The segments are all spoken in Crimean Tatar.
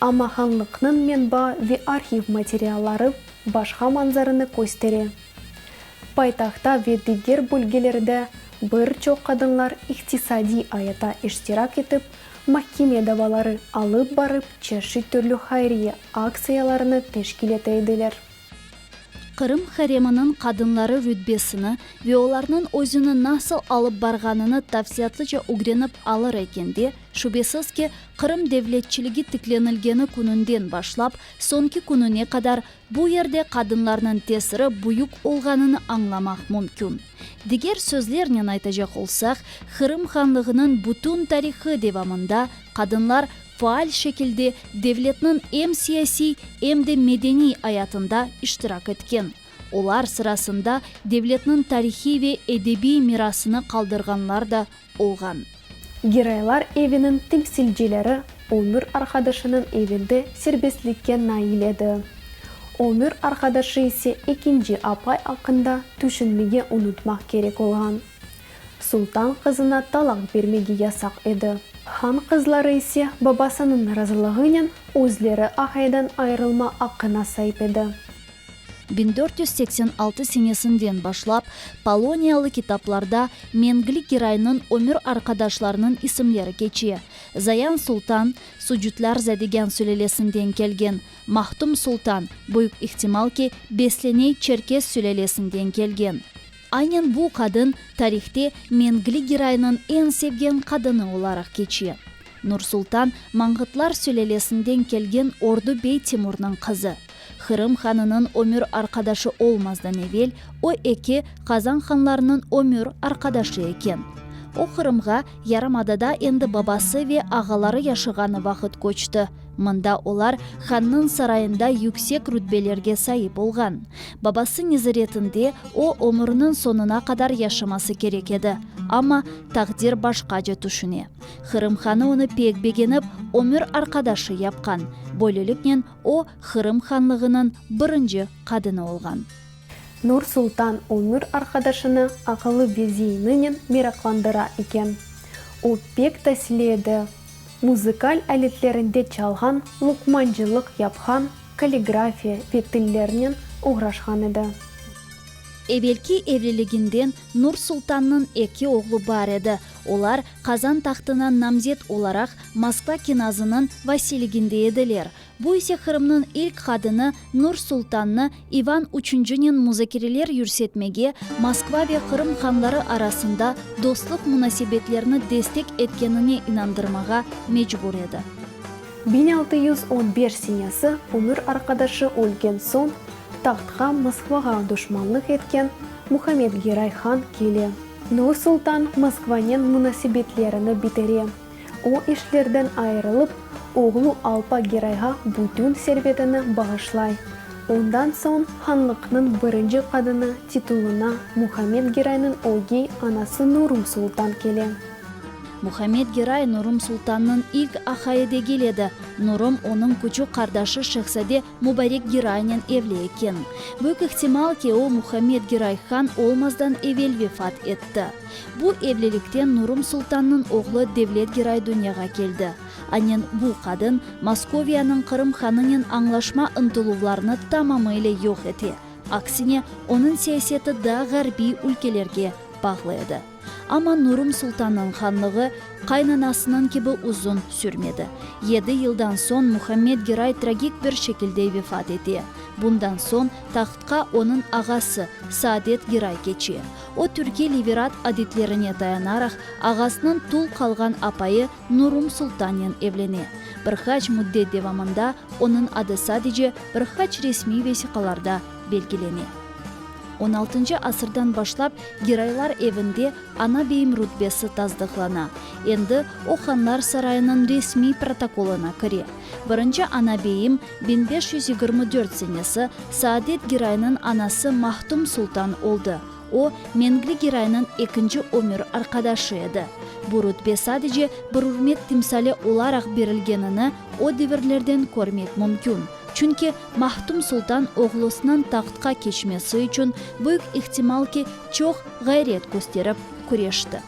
Amma hanlıqnıñ menba ve arhiv materialları başqa manzarını köstere. Paytahtta ve diger bölgelerde bir çoq qadınlar iqtisadiy ayata iştirak etip, mahkeme davaları alıp barıp çeşit türlü hayriye aktsiyalarını teşkil ete ediler. Qırım hareminiñ qadınları rütbesini ve olarnıñ özüni nasıl alıp barğanını tafsiyatlıca ögrenip alır eken de, şübesiz ki, Qırım devletçiligi tiklenilgeni kününden başlap soñki kününe qadar bu yerde qadınlarnıñ tesiri büyük olğanını añlamaq mümkün. Diger sözlernen aytacaq olsaq, Qırım Hanlığınıñ bütün tarihı devamında qadınlar faal şekilde devletniñ em siyasiy, em de medeniy ayatında iştirak etken, olar sırasında devletniñ tarihiy ve edebiy mirasını qaldırğanlar da olğan. Giroylar eviniñ temsilcileri ömür arqadaşınıñ evinde serbestlikke nail edi. Ömür arqadaşı ise ekinci apay aqqında tüşünmege unutmaq kerek olğan. Sultan qızına talaq bermege yasaq edi. Han qızları ise babasınıñ razılığınen özleri apaydan ayırılma aqqına saip edi. Biñ dört yüz seksen altı senesinden başlap poloniyalı kitaplarda mengli geraynıñ ömür arqadaşlarınıñ isimleri keçe. Zayan sultan, sucutlar zadegan sülelesinden kelgen, Mahtum sultan, büyük ihtimal ki, Besleney çerkes sülelesinden kelgen. Aynen bu qadın tarihte Mengli Giraynıñ eñ sevgen qadını olaraq keçe. Nursultan, Mangıtlar sülelesinden kelgen Ordu bey Timurnıñ qızı. Hırım hanınıñ ömür arqadaşı olmazdan evel, o eki Qazan hanlarınıñ ömür arqadaşı eken. O Qırımğa yarımadada endi babası ve ağaları yaşağanı vaqıt köçti. Mında olar hannıñ sarayında yüksek rütbelerge saip olğan. Babası nezaretinde o, ömüriniñ soñuna qadar yaşaması kerek edi. Amma taqdir başqace tüşüne. Qırım hanı onı pek begenip, ömür arqadaşı yapqan. Böyleliknen o, Qırım hanlığınıñ birinci qadını olğan. Nur sultan ömür arqadaşını aqılı beziyininen meraqlandıra eken. O pek tasili edi. Muzıkal aletlerinde çalğan, luqmancılıq yapqan, kalligrafiya ve tillernen oğraşqan edi. Evelki evliliginden Nur-Sultannıñ eki oğlu bar edi, olar Qazan tahtına namzet olaraq Moskva kenazınıñ vasiyliginde ediler. Bu ise Qırımnıñ ilk qadını Nur Sultannı İvan üçüncinen muzakereler yürsetmege, Moskva ve Qırım hanları arasında dostluq munasebetlerini destek etkenine inandırmağa mecbur edi. Biñ altı yüz on beş senesi ömür arqadaşı ölgen soñ, tahtqa Moskvağa duşmanlıq etken Muhammed Geray han kele. Nur Sultan Moskvanen munasebetlerini bitere. O işlerden ayırılıp, oğlu Alpa Gerayğa bütün servetini bağışlay. Ondan soñ hanlıqnıñ birinci qadını titulına Muhammed Geraynıñ ögey anası Nurum Sultan kele. Muhammed Geray Nurum Sultannıñ ilk ahayı degil edi. Nurum onıñ küçük qardaşı şehzade Mubarek Giraynen evli eken. Büyük ihtimal ki, o Muhammed Giray han olmazdan evel vefat etti. Bu evlilikten Nurum sultannıñ oğlu Devlet Giray dünyağa keldi. Anen bu qadın Moskoviyanıñ Qırım hanınen añlaşma ıntıluvlarını tamamıyla yoq ete, aksine, onıñ siyaseti daa ğarbiy ülkelerge bağlı edi. Amma Nurum sultannıñ hanlığı qaynanasınıñ kibi uzun sürmedi. Yedi yıldan soñ Muhammed Giray tragik bir şekilde vefat ete. Bundan soñ tahtqa onıñ ağası, Saadet Giray keçe. O, türkiy liberat adetlerine dayanaraq, ağasınıñ tul qalğan apayı Nurum sultannen evlene. Bir qaç müddet devamında onıñ adı sadece bir qaç resmiy vesiqalarda belgilene. On altıncı asırdan başlap Giraylar evinde Ana beyim rütbesi tasdıqlana, endi o Hanlar sarayınıñ resmiy protokolına kire. Birinci Ana beyim, biñ beş yüz yigirmi dört senesi, Saadet Giraynıñ anası Mahtum sultan oldı, o, Mengli Giraynıñ ekinci ömür arqadaşı edi. Bu rütbe sadece bir ürmet timsali olaraq berilgenini o devirlerden körmek mümkün. Çünki Mahtum Sultan oğlusınıñ tahtqa keçmesi içün büyük ihtimal ki, çoq ğayret kösterip, küreşti.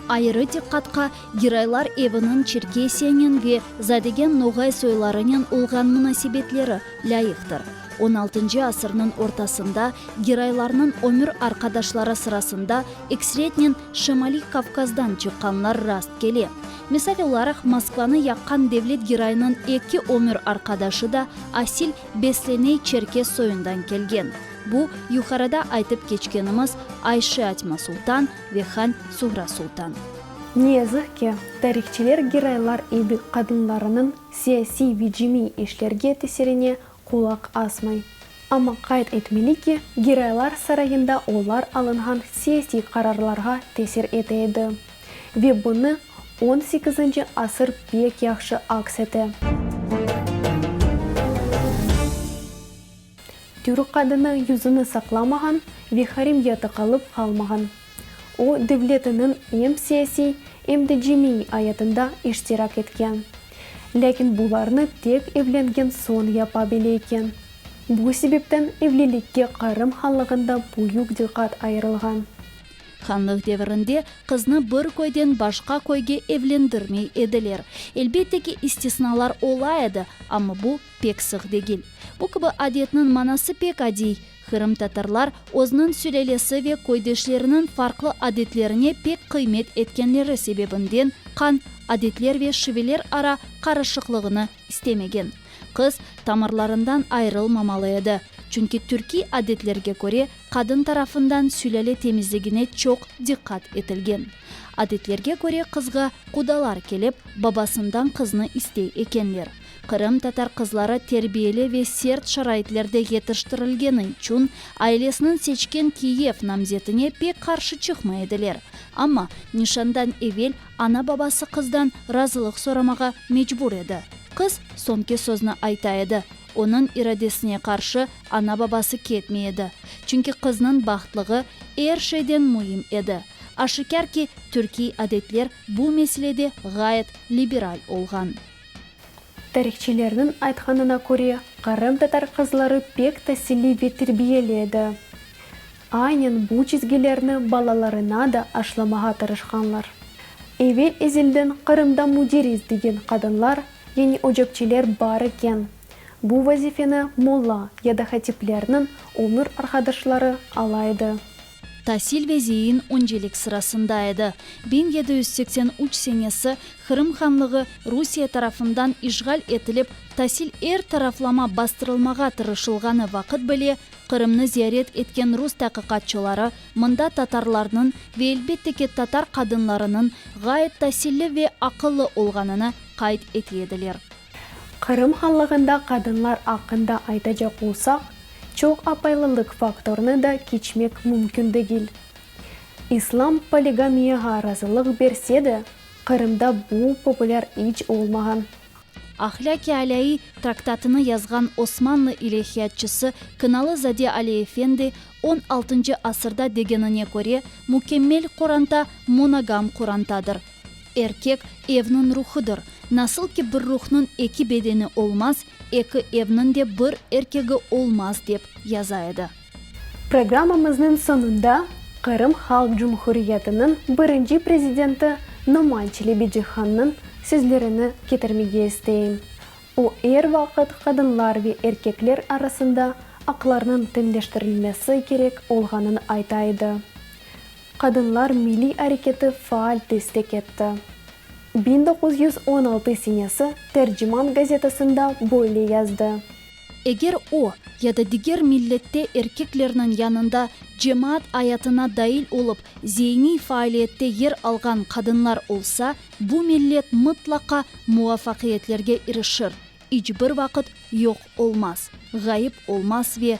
Ayırı diqqatqa Giraylar eviniñ Çerkesiyenen ve Zadegen Noğay soylarınen olğan munasebetleri lâyıqtır. On altıncı asırnıñ ortasında Giraylarnıñ ömür arqadaşları sırasında eksretnen Şımaliy Kavkazdan çıqqanlar rast kele. Misal olaraq, Moskvanı yaqqan devlet giroyınıñ eki ömür arqadaşı da asil Besleney çerkes soyundan kelgen, bu, yuqarıda aytıp keçkenimiz Ayşe Atma Sultan ve Han Suhra Sultan. Ne yazıq ki, tarihçiler giroylar evi qadınlarınıñ siyasiy ve cemiy işlerge tesirine Qulaq asmay. Amma qayd etmeli ki, Giraylar sarayında olar alınğan siyasiy qararlarğa tesir ete edi. Ve bunı on sekizinci asır pek yahşı aks ete. Türk qadını yüzüni saqlamağan ve harim yatı qalıp qalmağan. O, devletiniñ em siyasiy, em de cemiy ayatında iştirak etken. Lâkin bularnı tek evlengen soñ yapa bile eken. Bu sebepten evlilikke Qırım hanlığında büyük diqqat ayırılğan. Hanlıq devirinde qıznı bir köyden başqa köyge evlendirmey ediler. Elbette ki, istisnalar ola edi, amma bu pek sıq degil. Bu kibi adetniñ manası pek adiy, Qırımtatarlar özniñ sülalesi ve köydeşleriniñ farqlı adetlerine pek qıymet etkenleri sebebinden qan, adetler ve şiveler ara qarışıqlığını istemegen. Qız tamırlarından ayırılmamalı edi, çünki türkiy adetlerge köre qadın tarafından sülale temizligine çoq diqqat etilgen. Adetlerge köre qızğa qudalar kelip, babasından qıznı istey ekenler. Qırım tatar qızları terbiyeli ve sert şaraitlerde yetiştirilgeni içün ailesiniñ seçken Kiyev namzetine pek qarşı çıqmay ediler. Amma, nişandan evel ana-babası qızdan razılıq soramağa mecbur edi. Qız soñki sözni ayta edi, onıñ iradesine qarşı ana-babası ketmey edi, çünki qıznıñ bahtlığı er şeyden müim edi. Aşikâr ki, türkiy adetler bu meselede ğayet liberal olğan. Tarihçilerniñ aytqanına köre, qırımtatar qızları pek tasilli ve terbiyeli edi. Aynen bu çizgilerni balalarına da aşlamağa tırışqanlar. Evel-ezelden Qırımda müderis degen qadınlar, yani ocakçiler bar eken, bu vazifeni molla ya da hatiplerniñ ömür arqadaşları ala edi. Tasil ve zeyin öncelik sırasında edi. Biñ yedi yüz seksen üç senesi Qırım Hanlığı Rusiye tarafından işğal etilip, tasil er taraflama bastırılmağa tırışılğanı vaqıt bile Qırımnı ziyaret etken rus taqiqatçıları mında tatarlarnıñ ve elbette ki, tatar qadınlarınıñ ğayet tasilli ve aqıllı olğanını qayd ete ediler. Qırım Hanlığında qadınlar aqqında aytacaq olsaq, çoq apaylılıq faktorını da keçmek mümkün degil. İslam poligamiyağa razılıq berse de, Qırımda bu populâr iç olmağan. Ahlâk-i alâiy traktatını yazğan Osmanlı ilâhiyatçısı Kınalı Zade Ali Efendi, on altıncı asırda degenine köre, mükemmel qoranta monogam qorantadır. Erkek, evniñ ruhıdır. Nasıl ki bir ruhnıñ eki bedeni olmaz, eki evniñ de bir erkegi olmaz, dep yaza edi. Programmamıznıñ soñunda Qırım Halq Cumhuriyetiniñ birinci prezidenti Noman Çelebicihannıñ sözlerini ketirmege isteyim. O, er vaqıt qadınlar ve erkekler arasında aqlarnıñ teñleştirilmesi kerek olğanını ayta edi. Qadınlar milliy areketi faal destek etti. Biñ doquz yüz on altı senesi Terciman gazetasında böyle yazdı. Eger o, ya da diger millette erkeklerniñ yanında cemaat ayatına dail olıp, zeyniy faaliyette yer alğan qadınlar olsa, bu millet mıtlaqa muvafaqiyetlerge irişir, iç bir vaqıt yoq olmaz, ğayıp olmaz ve